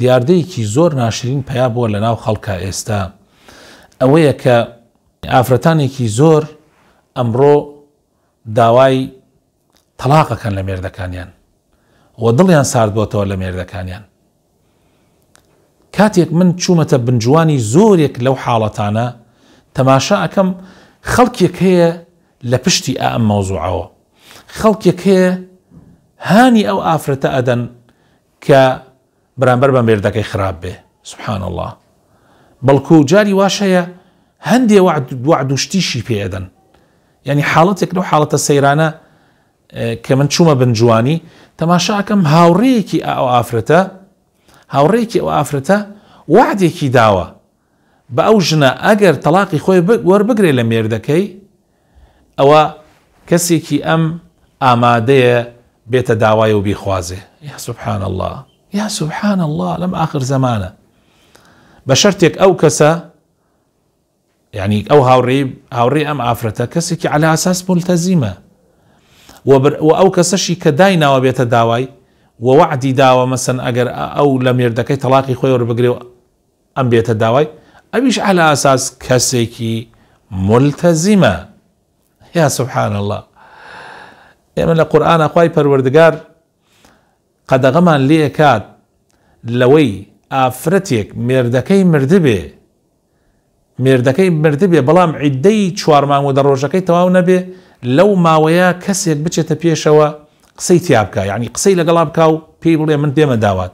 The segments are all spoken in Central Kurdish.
دیاردەیەکی زۆر ناشرین پەیا بووە لە ناو خەڵکا ئێستا ئەوەیە کە ئافرەتانێکی زۆر ئەمڕۆ داوای تەلاقەکەن لە مێردەکانیان و دڵیان ساردبووتەوە لە مێردەکانیان کاتێک من چوومەتە بنجوانی زۆرێک لەو حاڵەتانە تەماشا ئەەکەم خەڵکێک هەیە لە پشتی ئەم مەوزوعەوە خەڵکێک هەیە هانی ئەو ئافرەتە ئەدەن کە بەرامبەر بە مێردەکەی خراپ بێ سبحان اللە بەڵکو جاری واش هەیە هەندێ وەعد و شتیشی پێ ئەدەن یعنی حاڵەتێک لەو حاڵەتە سەیرانە کە من چوومە بنجوانی تەماشاکەم هاوڕێیەکی ئەو ئافرەتە هاوڕێکی ئەو ئافرەتە وعدێکی داوە بە ئەو ژنە ئەگەر تەلاقی خۆی وەربگرێ لە مێردەکەی ئەوە کەسێکی ئەم ئامادەیە بێتە داوای و بیخوازێ یا سبحان اللە یا سبحان اللە لەم ئاخر زەمانە بە شەرتێک ئەو کەسە یعنی ئەو هاوڕێ هاوڕێ ئەم ئافرەتە کەسێکی على ئاساس ملتەزیمە و ئەو کەسەشی کە دای ناوە بێتە داوای وەعدی داوە مەسن ئەگەر ئەو لە مێردەکەی تەلاقی خۆی وەربگرێ ئەم بێتە داوای ئەویش عەلا ئەساس کەسێکی مولتەزیمە یا سبحان اللە ئێمە لە قورئانا خوای پەروەردگار قەدەغەمان لێ ئەکات لەوەی ئافرەتێک مێردەکەی مردبێ مێردەکەی مردبێ بەڵام عیددەی چوار مانگ و دە ڕۆژەکەی تەواو نەبێ لەو ماوەیە کەسێک بچێتە پێشەوە قسەی تیابکە یعنی قسەی لەگەڵا بکە و پێی بڵێ من دێمە داوات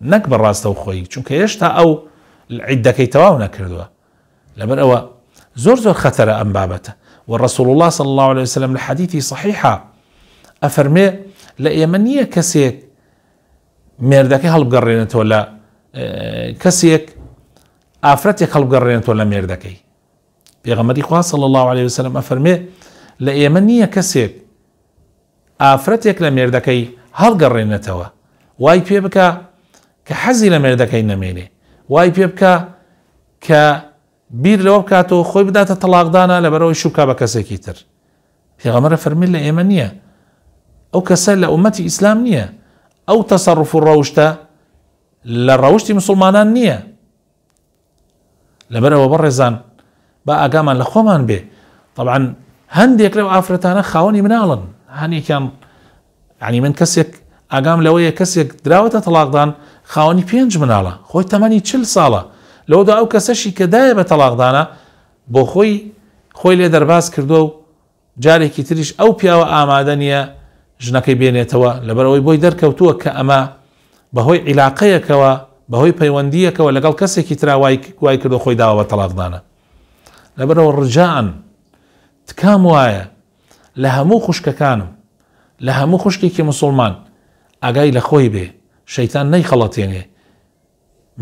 نەک بە ڕاستەوخۆی، چونکە هێشتا ئەو عیدەکەی تەواو نەکردووە، لەبەر ئەوە زۆر زۆر خەتەرە ئەم بابەتە، وە ڕەسوڵ اللە صلی اللە علیە وسلم لە حەدیثی صحیحا ئەفەرمێ لە ئێمە نییە کەسێک مێردەکەی هەڵبگەڕێنێتەوە لە کەسێک ئافرەتێک هەڵبگەڕێنێتەوە لە مێردەکەی پێغەمەری خوا صلی اللە علیه وسلم ئەفەرمێ لە ئێمە نییە کەسێک ئافرەتێک لە مێردەکەی هەڵگەڕێنێتەوە، وای پێ بکا کە حەزی لە مێردەکەی نەمێنێ، وای پێ بکا کە بیر لەوە بکات و خۆی بداتە تەڵاقدانا لەبەرئەوەی شوو بکا بە کەسێکی تر. پێغەمبەر ئەفەرمووی لە ئێمە نییە، ئەو کەسە لە ئوممەتی ئیسلام نییە، ئەو تەسەڕوف و ڕەوشتە لە ڕەوشتی موسڵمانان نییە. لەبەر ئەوە بەڕێزان با ئاگامان لە خۆمان بێ طبعا هەندێک لەو ئافرەتانە خاوەنی مناڵن هەنێکیان ینی من کەسێک ئاگام لەوەیە کەسێک دراوەتە تەلاقدان خاوەنی پێنج مناڵە خۆی تەمەنی چل ساڵە لەوەدا ئەو کەسەشی کە دایە بە تەلاقدانە بۆ خۆی خۆی لێ دەرباز کردووە و جارێکی تریش ئەو پیاوە ئامادە نییە ژنەکەی بێنێتەوە، لەبەرئەوەی بۆی دەرکەوتووە کە ئەمە بەهۆی عیلاقەیەکەوە، بەهۆی پەیوەندییەکەوە لەگەڵ کەسێکی ترا وای وای کردووە خۆی داوە بە تەڵاقدانە. لەبەرئەوە ڕجائەن تکام وایە لە هەموو خوشکەکانم، لە هەموو خوشکێکی مسوڵمان ئاگای لە خۆی بێ، شەیتان نەیخەڵەتێنێ،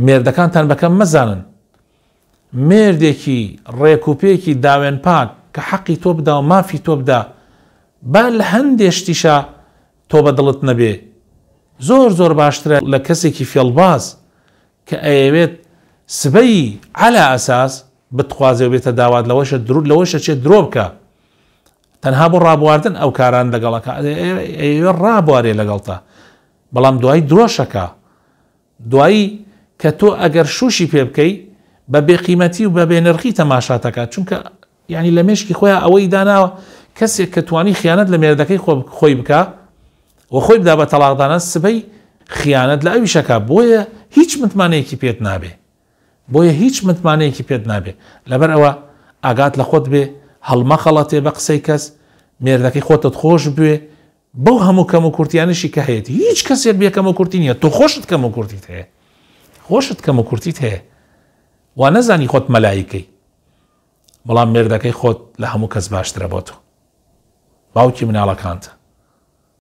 مێردەکانتان بەکەم مەزانن. مێردێکی ڕێک و پێکی داوێن پاک کە حەقی تۆ بدا و مافی تۆ بدا با لە هەندێ شتیشا تۆ بە دڵت نەبێ زۆر زۆر باشترە لە کەسێکی فێڵباز کە ئەیەوێت سبەی عەلا ئەساس بتخوازێ و بێتە داوات لەوەشە درود لەوەشە چێت درۆ بکە تەنها بۆ ڕابواردن ئەو کاران لەگەڵەکە ئەیەوێ ڕابوارێ لەگەڵتە بەڵام دوای درۆشەکە دوایی کە تۆ ئەگەر شووشی پێ بکەی بە بێ قیمەتی و بە بێ نرخی تەماشات ئەکات چونکە یانی لە مێشکی خۆیان ئەوەی داناوە کەسێک کە توانی خیانەت لە مێردەکەی خۆ خۆی بکە و خۆی بدا بە تەڵاقدانە سبەی خیانەت لە ئەویشەکە بۆیە هیچ متمانەیەکی پێت نابێ بۆیە هیچ متمانەیەکی پێت نابێ لەبەر ئەوە ئاگات لە خۆت بێ هەڵمەخەڵەتێ بە قسەی کەس مێردەکەی خۆتت خۆش بوێ بەو هەموو کەم و کورتیانەشی کە هەیەتی هیچ کەسێک بێ کەم و کورتی نییە تۆ خۆشت کەم و کورتیت هەیە خۆشت کەم و کورتیت هەیە وا نەزانی خۆت مەلایکەی بەڵام مێردەکەی خۆت لە هەموو کەس باشترە بۆ تۆ باوکی مناڵەکانتە